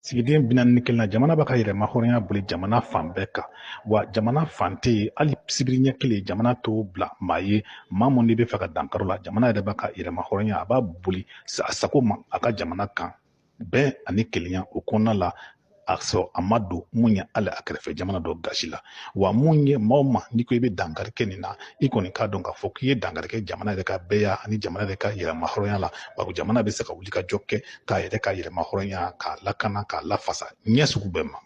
sigiden bi naani ni kelennan jamana b'a ka yɛrɛma hɔrɔnya boli jamana fan bɛɛ kan wa jamana fan tɛ yen hali sibiri ɲɛ kelen jamana t'o bila maa ye maa mun de b'a fɛ ka dankari o la jamana yɛrɛ b'a ka yɛrɛma hɔrɔnya a b'a boli a sago ma a ka jamana kan bɛn ani kelenya o kɔnɔna la a sɔrɔ a ma don mun ye hali a kɛrɛfɛ jamana dɔ gasi la wa mun ye maa o maa n'i ko i bɛ dankari kɛ nin na i kɔni k'a dɔn k'a fɔ k'i ye dankari kɛ jamana yɛrɛ ka bɛɛya ani jamana yɛrɛ ka yɛrɛma hɔrɔnya la bawo jamana bɛ se ka wuli ka jɔ kɛ k'a yɛrɛ ka yɛrɛma hɔrɔnya k'a lakana k'a lafasa ɲɛ sugu bɛɛ ma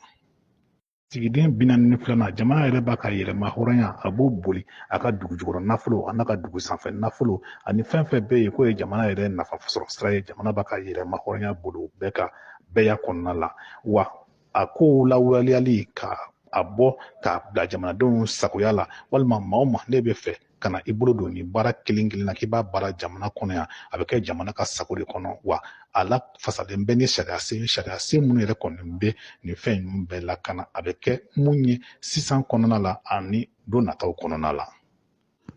sigiden bi naani ni filanan jamana yɛrɛ b'a ka yɛrɛma hɔrɔnya a b'o boli a ka dugu jukɔrɔ nafolo a n'a ka dugu sanfɛ nafolo ani fɛn fɛn bɛ yen k'o ye jamana yɛrɛ nafa sɔrɔ sira ye jamana b'a ka yɛrɛma hɔrɔnya boli o bɛɛ kan bɛɛya kɔnɔna la wa a kow lawaleyali k'a bɔ k'a bila jamanadenw sagoya la walima maa o maa n'i b'a fɛ ka na i bolo don nin baara kelen kelen na k'i b'a baara jamana kɔnɔ yan a bɛ kɛ jamana ka sago de kɔnɔ wa a lafasalen bɛ ni sariya sen sariya sen minnu yɛrɛ kɔni bɛ nin fɛn ninnu bɛɛ lakana a bɛ kɛ mun ye sisan kɔnɔna la ani don nataw kɔnɔna la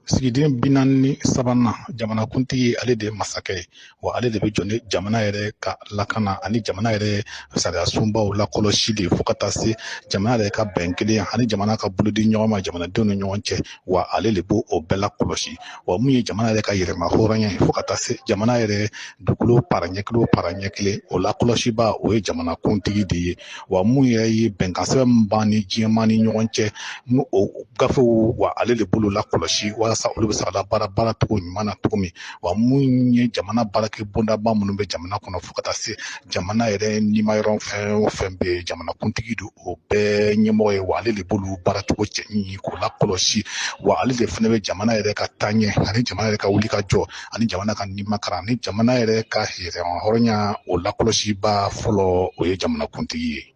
sigiden bi naani ni sabanan jamanakuntigi ale de ye masakɛ ye wa ale de bɛ jɔ ni jamana yɛrɛ ka lakana ani jamana yɛrɛ sariya sunbaw lakɔlɔsili fo ka taa se jamana yɛrɛ ka bɛn kelen ani jamana ka bolodi ɲɔgɔn ma jamanadenw ni ɲɔgɔn cɛ wa ale de b'o o bɛɛ lakɔlɔsi wa mun ye jamana yɛrɛ ka yɛrɛma hɔrɔnya ye fo ka taa se jamana yɛrɛ dugukolo para ɲɛ kelen o para ɲɛ kelen o lakɔlɔsiba o ye jamanakuntigi de ye wa mun yɛrɛ ye bɛnkan sɛbɛn min b'an ni diɲɛmaa ni ɲɔgɔn cɛ n'o gafew wa ale de b'olu lakɔlɔsi walasa olu bɛ se ka labaara baaracogo ɲuman na cogo min wa mun ye jamana baarakɛ bondaba minnu bɛ jamana kɔnɔ fo ka taa se jamana yɛrɛ nimayɔrɔ fɛn o fɛn bɛ yen jamanakuntigi d'o bɛɛ ɲɛmɔgɔ ye wa ale de b'olu baaracogo ɲɛɲini k'o lakɔlɔsi wa ale de fana bɛ jamana yɛrɛ ka taaɲɛ ani jamana yɛrɛ ka wuli ka jɔ ani jamana ka nimakaran ani jamana yɛrɛ ka hɛrɛhɔrɔnya o lakɔlɔsiba fɔlɔ o ye jamanakuntigi ye